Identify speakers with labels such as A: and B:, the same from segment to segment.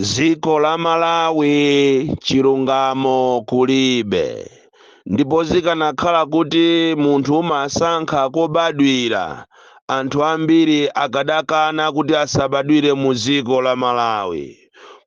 A: dziko la malawi chilungamo kulibe ndipo zikanakhala kuti munthu umasankha kobadwira anthu ambiri akadakana kuti asabadwire mu dziko la malawi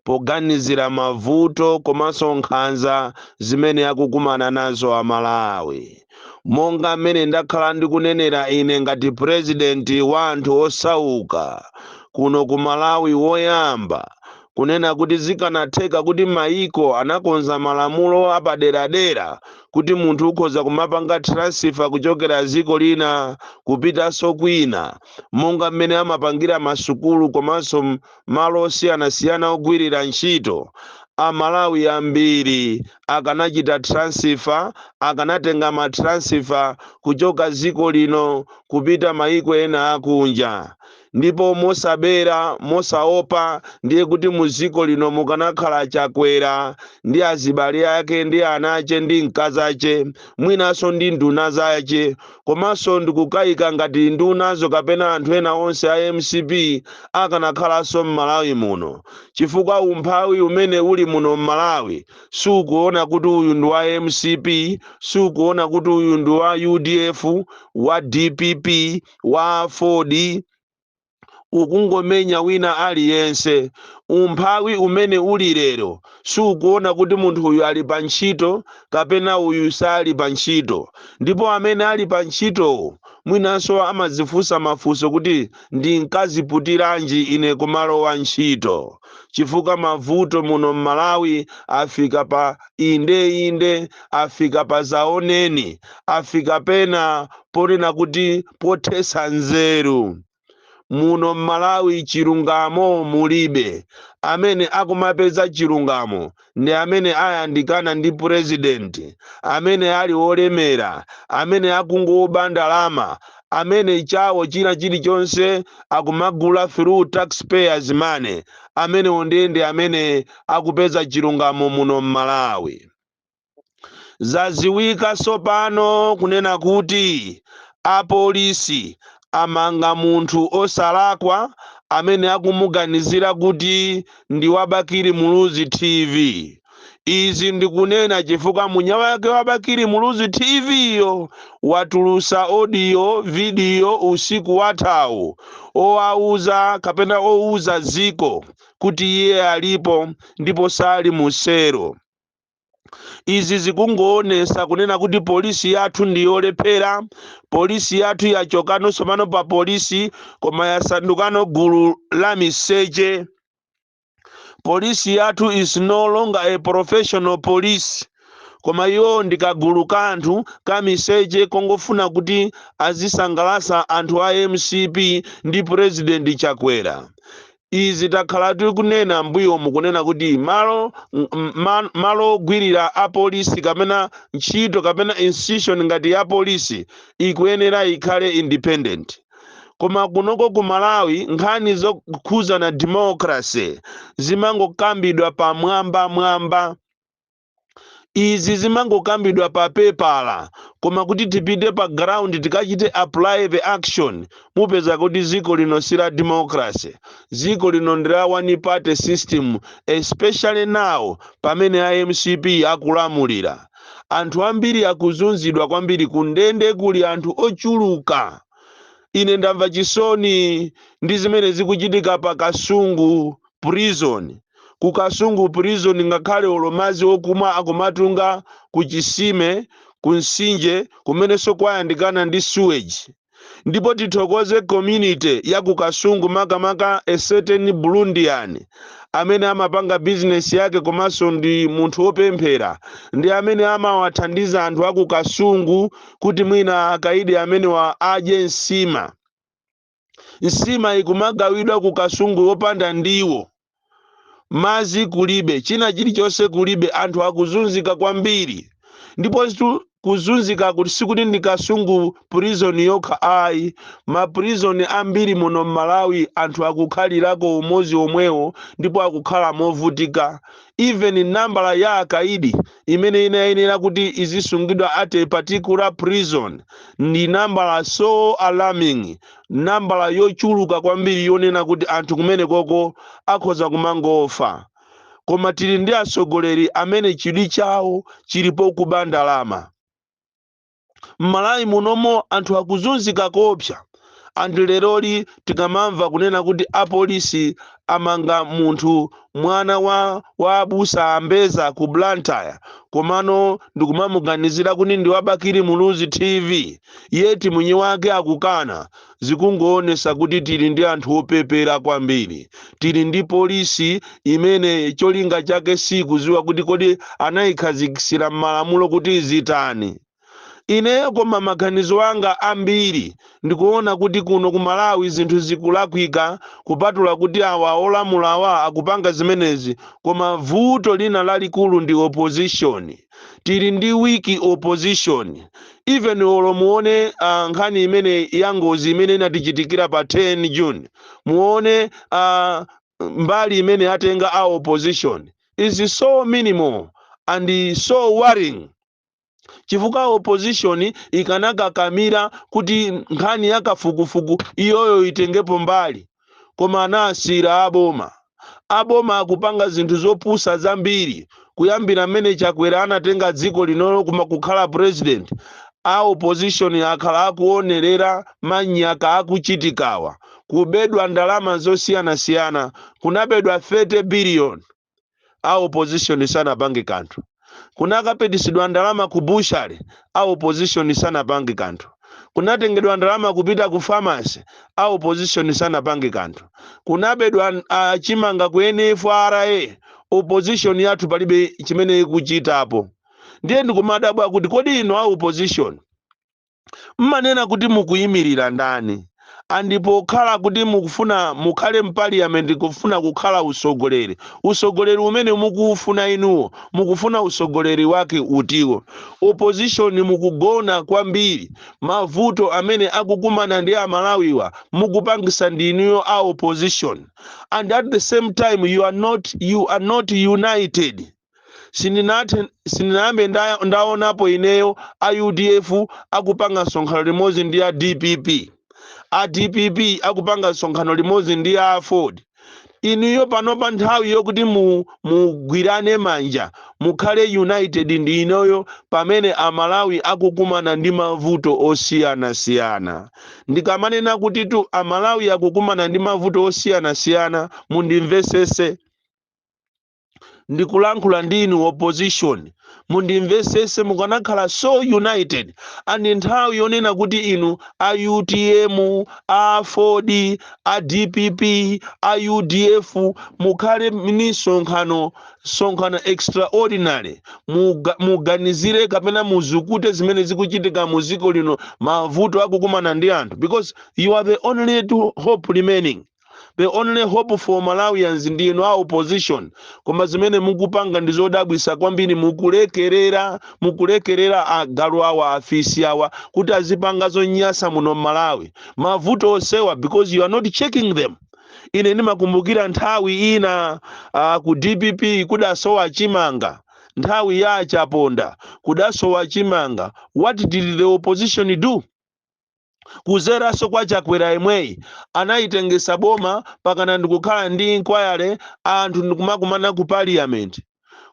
A: poganizira mavuto komanso nkhanza zimene akukumana nazo amalawi monga mmene ndakhala ndikunenera ine ngati purezidenti wa anthu osauka kuno ku malawi woyamba kunena kuti zikanatheka kuti mayiko anakonza malamulo apaderadera kuti munthu ukhoza kumapanga transfer kuchokera dziko lina kupitanso kwina monga mmene amapangira masukulu komanso m- malo osiyanasiyana ogwirira ntchito amalawi ambiri akanachita transfer akanatenga ma transfer kuchoka dziko lino kupita mayiko ena akunja ndipo mosabera mosaopa ndiye kuti mu dziko lino mukanakhala Chakwera ndi azibale ake ndi anache ndi mkazache mwinanso ndi nduna zache Komanso ndikukayika ngati ndunazo kapena anthu ena onse a mcp akanakhalanso m'Malawi muno chifukwa umphawi umene uli muno m'Malawi sukuona kuti uyu ndi wa mcp, sukuona kuti uyu ndi wa udf, wa dpp, wa aford. ukungomenya wina aliyense umphawi umene uli lero sukuona kuti munthu uyu ali pa ntchito kapena uyu sali pa ntchito ndipo amene ali pa ntchitowo mwinanso amadzifunsa mafunso kuti ndinkaziputiranji ine kumalowa ntchito chifukwa mavuto muno m'malawi afika pa inde inde afika pa zaoneni afika pena ponena kuti pothetsa nzeru muno m'malawi chilungamo mulibe amene akumapeza chilungamo ndi amene ayandikana ndi president, amene ali olemera, amene akungoba ndalama, amene chawo china chilichonse akumagula through tax payers money, amenewo ndiye ndi amene akupeza chilungamo muno m'Malawi. Zadziwika tsopano kunena kuti apolisi amanga munthu osalakwa amene akumuganizira kuti ndi wa Bakili Muluzi TV. Izi ndikunena chifukwa mwini wake wa Bakili Muluzi TV yo watulutsa audio, video usiku wathawu owawuza kapena ouza dziko kuti iye alipo ndipo sali mu selo. izi zikungoonesa kunena kuti polisi yathu ndi yolephera polisi yathu yachokano tsopano pa polisi koma yasandukano gulu la miseche polisi yathu is no longer a professional police koma iwo ndi kagulu ka anthu ka miseche kongofuna kuti azisangalasa anthu a mcp ndi president chakwera Izi takhala tikunena mbuyomu kunena kuti malo ogwirira a polisi kapena ntchito kapena institution ngati ya polisi ikuyenera ikhale independent koma kunoko ku Malawi nkhani zokhuzana democracy zimangokambidwa pamwambamwamba. izi zimangokambidwa pa pepala koma kuti tipite pa ground tikachite apply the action mupeza kuti dziko lino si la democracy dziko lino ndi la one party system especially now pamene a mcp akulamulira anthu ambiri akuzunzidwa kwambiri kundende kuli anthu ochuluka ine ndamva chisoni ndi zimene zikuchitika pa kasungu prison ku kasungu prison ngakhale olo madzi okumwa akumatunga ku chisime ku mtsinje kumenenso kukuyandikana ndi sewage ndipo tithokoze community ya ku kasungu makamaka a certain burundian amene amapanga bizinesi yake komanso ndi munthu wopemphera ndi amene amawathandiza anthu aku kasungu kuti mwina akaidi amenewa adye nsima nsima ikumagawidwa ku kasungu wopanda ndiwo madzi kulibe china chilichonse kulibe anthu akuzunzika kwambiri ndipo zitu- kuzunzika kuti sikuti ndi kasungu prison yokha ayi ma prison ambiri muno mmalawi anthu akukhalirako umodzi womwewo ndipo akukhala movutika even nambala ya akaidi imene inayenera kuti izisungidwa at a particular prison ndi nambala so alarming nambala yochuluka kwambiri yonena kuti anthu kumenekoko akhoza kumangofa koma tili ndi atsogoleri amene chidwi chawo chili pokuba ndalama M'Malawi munomo anthu akuzunzika koopsa and leroli tikamamva kunena kuti apolisi amanga munthu mwana wa wa abusa a Mbeza ku Blantyre komano ndikumamuganizira kuti ndi wa Bakili Muluzi TV yet mwini wake akukana zikungoonesa kuti tili ndi anthu opepera kwambiri tili ndi polisi imene cholinga chake sikuziwa kuti kodi anayikhazikisira m'malamulo kuti izitani ine koma maganizo anga ambiri ndikuona kuti kuno ku malawi zinthu zikulakwika kupatula kuti awa olamulawa akupanga zimenezi koma vuto lina lalikulu ndi opposition tili ndi weak opposition even olo muone uh, nkhani imene ya ngozi imene inatichitikira pa 10 june muone uh, mbali imene yatenga a opposition is so minimal and so worrying chifukwa opposition ikanakakamira kuti nkhani ya kafukufuku iyoyo itengepo mbali koma anasiyira a boma. A boma akupanga zinthu zopusa zambiri kuyambira mmene Chakwera anatenga dziko linolo kukhala president, a opposition akhala akuonerera manyaka akuchitikawa. Kubedwa ndalama zosiyanasiyana, kunabedwa 30 billion. a opposition sanapange kanthu kunakapitisidwa ndalama ku bushale a opposition sanapange kanthu kunatengedwa ndalama kupita ku famasi a opposition sanapange kanthu kunabedwa uh, chimanga ku nfra opposition yathu palibe chimene ikuchitapo ndiye ndikumadabwa kuti kodi inu a opposition mmanena kuti mukuyimirira ndani and pokhala kuti mukufuna mukhale mpaliyament kufuna kukhala usogoleri usogoleri umene mukuwufuna inuwo mukufuna usogoleri wake utiwo opposition mukugona kwambiri mavuto amene akukumana ndi amalawiwa mukupangisa ndi inuyo a opposition and at the same time you are not, you are not united sindinathe sindinayambe nda- ndaonapo ineyo a udf akupanga msonkhano limodzi ndi a dpp a dpp akupanga msonkhano limodzi ndi a aford inuyo pano pa nthawi yokuti mu- mugwirane manja mukhale united ndi inoyo pamene amalawi akukumana ndi mavuto osiyanasiyana ndikamanena kutitu amalawi akukumana ndi mavuto osiyanasiyana mundimvesese ndikulankhula ndi inu opposition mundimvesese mukanakhala so united and nthawi yonena kuti inu a utm a aford a dpp a udf mukhale ni msonkhano msonkhano extraordinary muga- muganizire kapena muzukute zimene zikuchitika mu dziko lino mavuto akukumana ndi anthu because you are the only true hope remaining the only hope for malawians ndi inu a opposition koma zimene mukupanga ndi zodabwisa kwambiri mukulekerera mukulekerera agalu awa afisi awa kuti azipanga zonyasa muno mmalawi mavuto onsewa because you are not checking them ine ndimakumbukira nthawi ina uh, ku dpp kudasowa chimanga nthawi ya achaponda kudasowa chimanga what did the opposition do kudzeranso kwa chakwera yemweyi anayitengesa boma pakana ndikukhala ndi inquiry anthu ndikumakumana ku parliament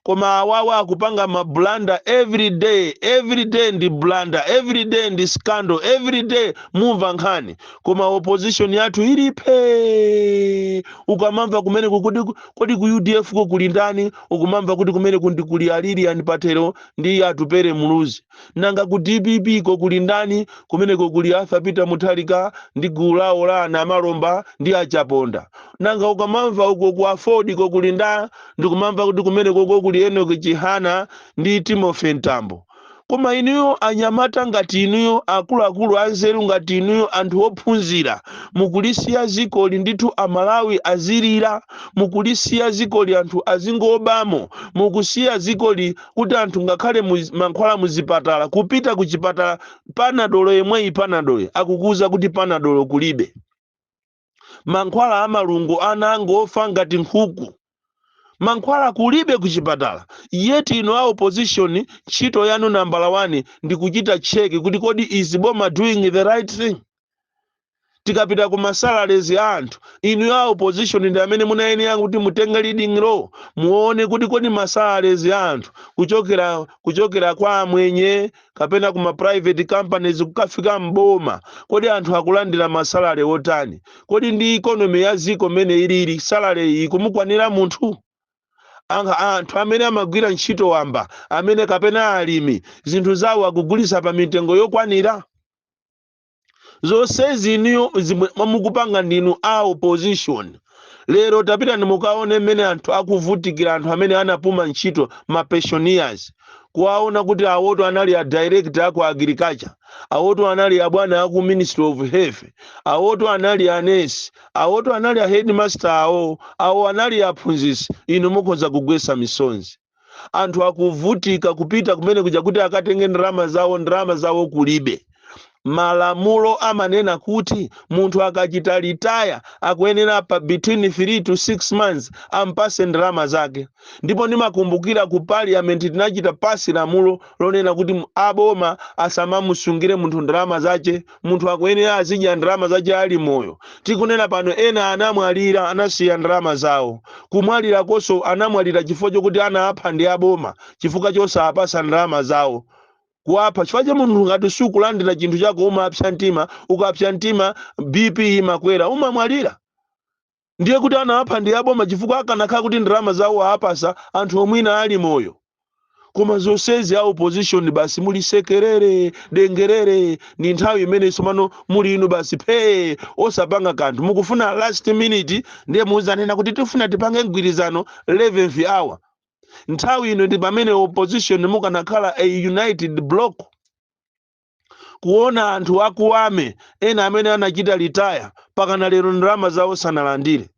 A: koma awawa akupanga mabulanda every day every day ndi bulanda every day ndi scandal every day mumva nkhani koma opposition yathu ili phe ukamamva kumene kuti kodi ku udf ko kuli ndani ukumamva kuti kumeneko ndi kuli a Lilian Patel ndi atupere muluzi nanga ku dpp ko kuli ndani kumeneko kuli arthur peter mutharika ndi gulu lawo la a Namalomba ndi achaponda nanga ukamamva uko ku aford ko kuli ndani kumamva kuti kumeneko ko kuli enoki chihana ndi timothy mtambo koma inuyo anyamata ngati inuyo akuluakulu anzeru ngati inuyo anthu ophunzira mukulisiya zikoli ndithu amalawi azilira mukulisiya zikoli anthu azingoba mukusiya zikoli kuti anthu ngakhale mankhwala mu zipatala kupita ku chipatala panadolo yemweyi panadolo akukuuza kuti panadolo kulibe mankhwala a malungo ana akungofa ngati nkhuku mankhwala kulibe ku chipatala yet inu a opposition ntchito yanu nambala 1 ndi kuchita cheki kuti kodi is boma doing the right thing tikapita ku masalaries a anthu inu a opposition ndi amene munayenera kuti mutenge leading role muone kuti kodi masalaries a anthu kuchokera kwa amwenye kapena kuma private companies kukafika mboma kodi anthu akulandira masalary otani kodi ndi economy ya ziko mmene ilili salary ikumukwanira munthu Anga- anthu amene amagwira ntchito wamba amene kapena alimi zinthu zawo akugulisa pa mitengo yokwanira zonsezi inuyo simwemwa mukupanga ndinu a opposition lero tapitani mukaone mmene anthu akuvutikira anthu amene anapuma ntchito ma pensioners kuwaona kuti awoto anali a director aku agriculture awoto anali abwana aku ministry of health awoto anali anesi awoto anali a headmaster awo awo anali aphunzitsi inu mukhoza kugwetsa misonzi anthu akuvutika kupita kumene kuja kuti akatenge ndalama zawo ndalama zawo kulibe malamulo amanena kuti munthu akachita litaya akuyenera pa between 3 to 6 months ampase ndalama zake ndipo ndimakumbukira ku parliament tinachita pasi lamulo lonena kuti aboma asamamusungire munthu ndalama zache munthu akuyenera azidya ndalama zache ali moyo tikunena pano ena anamwalira anasiya ndalama zawo kumwalirakonso anamwalira chifukwa chokuti anawapha ndi aboma chifukwa chosawapasa ndalama zawo kuwapha chifukwa cha munthu ngati sukulandira chinthu chako umapsa mtima ukapsa mtima bp imakwera umamwalira ndiye kuti anawapha ndi aboma chifukwa akanakhala kuti ndalama zawo aapasa anthuwo mwina ali moyo koma zonsezi a opposition basi muli sekerere dengerere ndi nthawi imene tsopano muli inu basi phee osapanga kanthu mukufuna last minute ndiye muzanena kuti tifuna tipange mgwirizano 11th hour nthawi ino ndi pamene opposition mukanakhala a united block kuona anthu aku army ena amene anachita retire pakana lero ndalama zawo sanalandire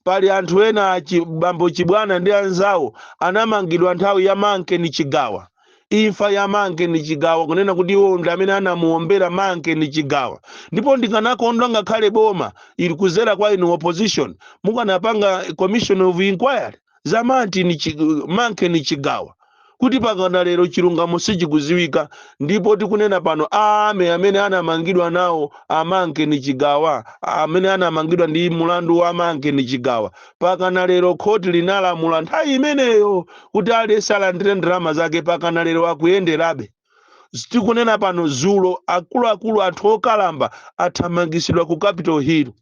A: pali anthu ena achi- bambo chibwana ndi anzawo anamangidwa nthawi ya Manken Chigawa imfa ya Manken Chigawa kunena kuti iwo ndi amene anamuombera Manken Chigawa ndipo ndikanakondwa ngakhale boma ili kuzera kwa inu opposition mukanapanga commission of inquiry za Martin Chi- Manken Chigawa kuti pakana lero chilungamo sichikuziwika ndipo tikunena pano a army amene anamangidwa nawo a Manken Chigawa amene anamangidwa ndi mulandu wa Manken Chigawa pakana lero khoti linalamula nthawi imeneyo kuti aliyense alandire ndalama zake pakana lero akuyenderabe tikunena pano zulo akuluakulu anthu okalamba athamangisidwa ku capital hill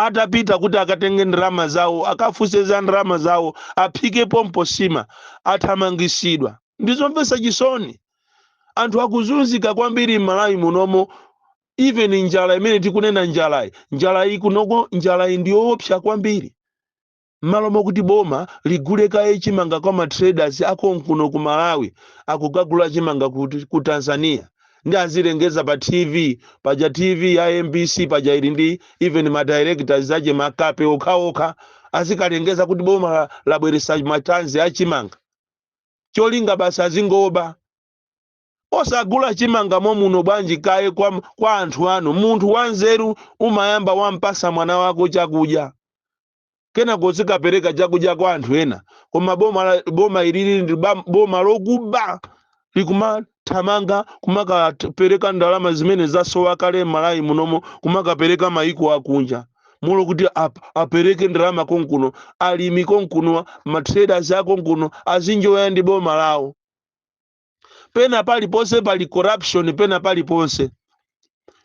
A: atapita kuti akatenge ndalama zawo akafunse za ndalama zawo aphike pompo sima athamangisidwa ndi zomvetsa chisoni anthu akuzunzika kwambiri m'malawi munomo even njala imene tikunena njalayi njalayi kunoko njalayi ndi yoopsa kwambiri Mmalo mokuti boma ligule kaye chimanga kwa ma traders a konkuno ku Malawi akukagula chimanga kuti? Ku Tanzania. Ndi azilengeza pa TV paja TV ya mbc paja ili ndi even ma directors ache makape okhaokha azikalengeza kuti boma labweresa ma tons a chimanga cholinga basi azingoba. Osagula chimanga momuno bwanji kaye kwa kwa anthu anu. Munthu wanzeru umayamba wampasa mwana wako chakudya. kenako uzikapereka chakudya kwa anthu ena koma boma la- boma ilili ndi ba- boma lokuba likumathamanga kumakapereka ndalama zimene zasowa kale m'malawi munomo kumakapereka mayiko akunja mmalo kuti ap- apereke ndalama konkuno alimi konkuno matraders akonkuno azinjoya ndi boma lawo pena paliponse pali corruption pena paliponse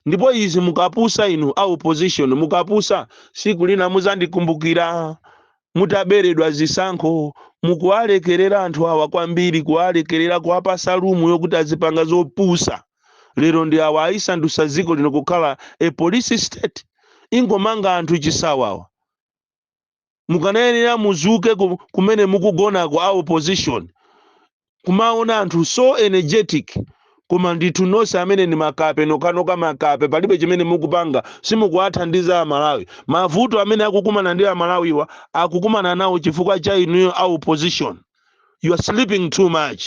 A: ndipo izi mukapusa inu a opposition mukapusa siku lina muzandikumbukira mutaberedwa zisankho mukuwalekerera anthu awa kwambiri kuwalekerera kuwapasa lumu yokuti azipanga zopusa lero ndi awa ayisandusa dziko lino kukhala a police state ingomanga anthu chisawawa mukanayenera muzuke ku- kumene mukugonako a opposition kumaona anthu so energetic koma ndithu nonse amene ndi makape nokanoka makape palibe chimene mukupanga simukuwathandiza amalawi mavuto amene akukumana ndi amalawiwa akukumana nawo chifukwa cha inuyo a opposition you are sleeping too much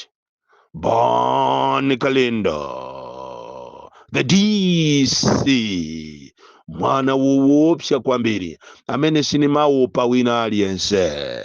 A: Bon Kalindo, the DC, mwana woopsa kwambiri amene sinimaopa wina aliyense.